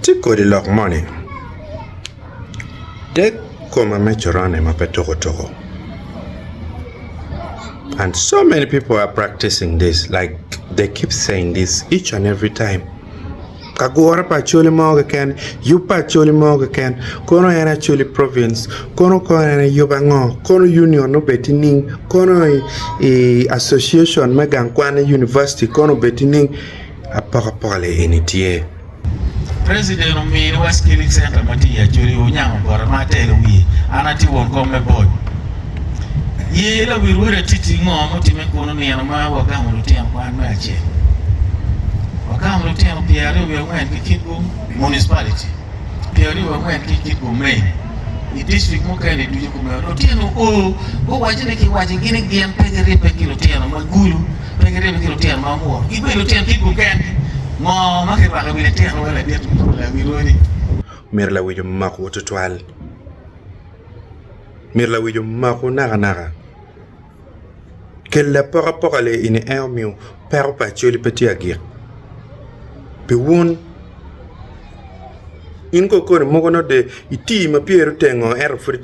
Tye kodi lok moni dek koma me coron ni ma pe tuku tuku and so many people are practicing this like they keep saying this each and every time ka gure pa acholi mo keken yub pa acholi mo keken kono en acholi province kono kong en yub ango kono union obed ki ning kono i association me gang kwan i university kono obed ki ning apokapoka le eni tye. President omiyo wa Skilling Center ma tye i Acholi, Onyango Bota ma atelo i wiye. An atye won kom me bot. Ye lawil Wod Atiti ngo ma otimme kunu? Nino ma wagamo lutino kwan me acel, wagamo lutino pyeraryo wiye angwen ki kitgu, municipality pyeraryo wiye angwen ki kitgu, main i district mukene-ni ducu kumeno. Lutino oo, guwaco ni kiwaco gi ni gin pe giribbe ki lutino ma gulu. Pe giribo ki lutino ma omur, ki bene lutino kit mukene mo ma kirwako i wi litino wai ladit me pol i wi rwodi. Myero lawic omakwu tutwal. Myero lawic omakwu nakanaka. Kelle apokapoka le in i eo miyo peko pa Acholi pe tye agik. Pi wun, in ko koni mogo nongo de itii ma pyeri oteng-ngo ento pud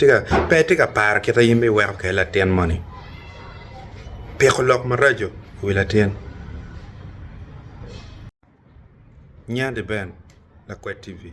pe itye ka paro kit aye me iweko kelle latin moni. Piko lok maraco i wi latin. Nyande Ben, Lakwed TV.